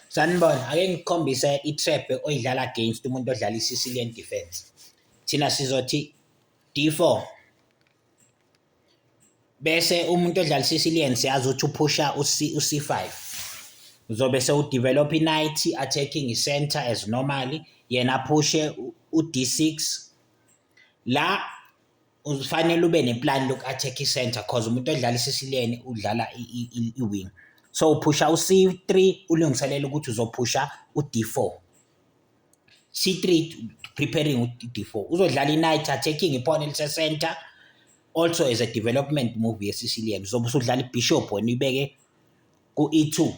Sanibona, ake ngikhombise i-trap oyidlala against umuntu odlala i-Sicilian defense. Thina sizothi D4. Bese umuntu odlala i-Sicilian siyazi ukuthi uphusha uC uC5. Uzobe sewudevelop i-knight attacking i-center as normally, yena aphushe u-D6. La ufanele ube neplan loku-attack i-center cause umuntu odlala isisileni udlala i-wing so uphusha u-c3 ulungiselela ukuthi uzophusha u-d4 c3 preparing u-d4 uzodlala i-night attacking iphone elisesenter also as a development move yesicilian uzobe usudlala ibishop wena uyibeke ku-e2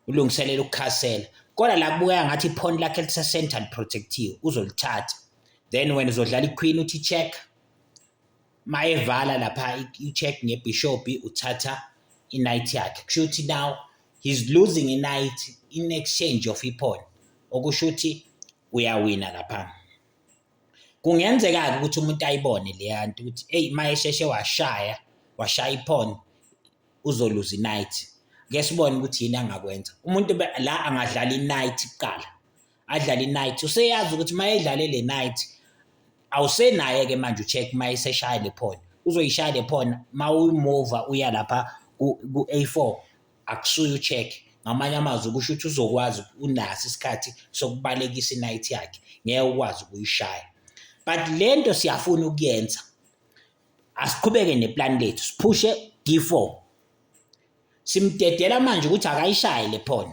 ulungiselela ukukhasela kodwa la kubukeka ngathi iphoni lakhe lise-center liprotective uzolithatha then wena uzodlala iqueen uthi check mayevala lapha i-check ngebhishobhi uthatha i-night yakhe kusho ukuthi now he's losing i-night in exchange of iphone okusho ukuthi uyawina lapha kungenzeka-ke ukuthi umuntu ayibone leya nto ukuthi eyi uma esheshe washaya washaya iphone uzoluza i-night ngeke sibone ukuthi yini angakwenza umuntu la angadlala i-night kuqala adlale i-night useyazi ukuthi uma edlale le night awusenaye-ke manje ucheck uma eseshaya le phone uzoyishaya le phone uma uyimova uya lapha ku-a four akusuye ucheck ngamanye amazwi kusho ukuthi uzokwazi unaso isikhathi sokubalekisa i-night yakhe ngeke ukwazi ukuyishaya but le nto siyafuna ukuyenza Asiqhubeke neplani lethu siphushe D4. Simdedela manje ukuthi akayishaye le pawn.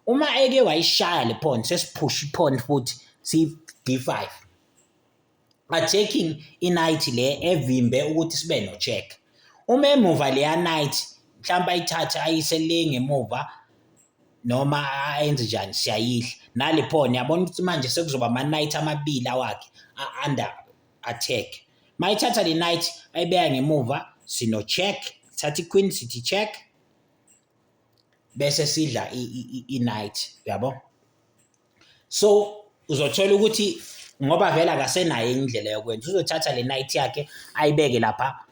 Uma eke wayishaya le pawn sesiphusha ipawn futhi si D5. Attacking i-knight le evimbe ukuthi sibe no check. Uma emuva leya knight mhlawumbe ayithathe ayise le ngemuva noma ayenze njani siyayidla nale pawn yabona ukuthi manje sekuzoba ama-knight amabili awakhe under attack mayithatha le knight ayibeka ngemuva sino check thatha iqueen sithi check bese sidla i-night uyabo so uzothola ukuthi ngoba vele akasenayo indlela yokwenza uzothatha le night yakhe ayibeke lapha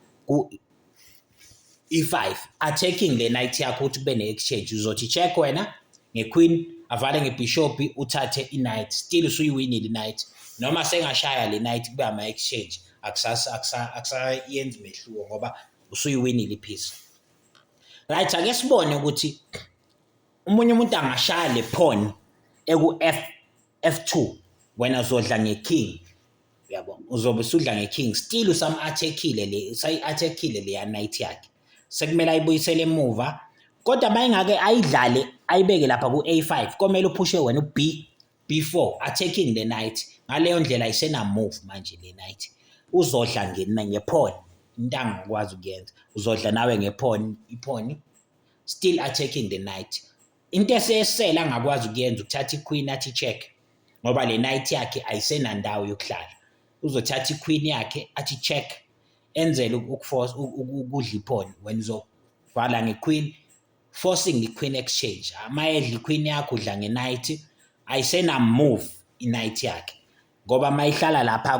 i-five achecking le night yakho ukuthi kube ne-exchange uzothi check wena nge-queen avale ngebhishobhi uthathe i-night still usuyiwinile i-night noma sengashaya le night kube ama-exchange akusayenzi mehluko ngoba usuyiwinile i-piece right ake sibone ukuthi umunye umuntu angashaya le phone eku-f F2 wena uzodla ngeking yabo uzobe usudla ngeking still usam-attackile le usayi-attackile leya night yakhe sekumele ayibuyisele emuva kodwa mayingake ayidlale ayibeke lapha ku-a5 komele uphushe wena u-b b4 attacking the night ngaleyo ndlela isenamove manje le night uzodla ngephone into angikwazi ukuyenza uzodla nawe ngephone iphone still attacking the night Into esesele angakwazi ukuyenza ukuthatha iQueen athi check ngoba le night yakhe ayisenandawo yokuhlala. Uzothatha iQueen yakhe athi check enzele ukuforce ukudla iphone wena uzovala ngeQueen forcing iQueen exchange. Uma edla iQueen yakho udla ngeNight ayisenamove iNight yakhe. ngoba mayihlala lapha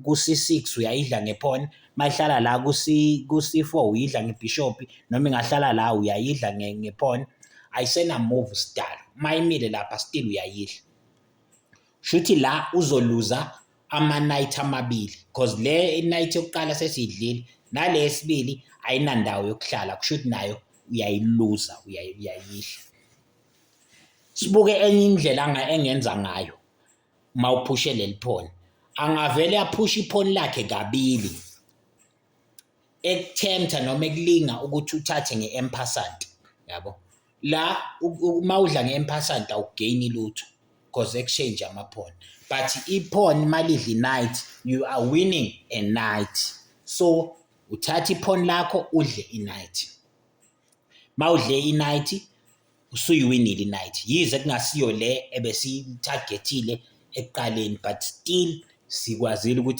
ku-C6 uyayidla ngephone mayihlala la ku-C4 uyidla ngebhishopi noma ingahlala la uyayidla ngephone ayisenamove sdal mayimile lapha still uyayidla shuthi la uzoluza ama-night amabili because le night yokuqala sesidlile nale yesibili ayinandawo yokuhlala kusho ukuthi nayo uyayiluza uyayidla sibuke enye indlela engenza ngayo uma uphushe leli phone angavele aphushe iphone lakhe kabili ekuthemtha noma ekulinga ukuthi uthathe nge-empasant yabo la uma udla nge-empasant awugeyini lutho because exchange amaphone but iphone malidli night you are winning a night so uthatha iphone lakho udle i-night mawudle inight usuyiwinile inight yize kungasiyo le ebesiyitargethile ekuqaleni but still sikwazile ukuthi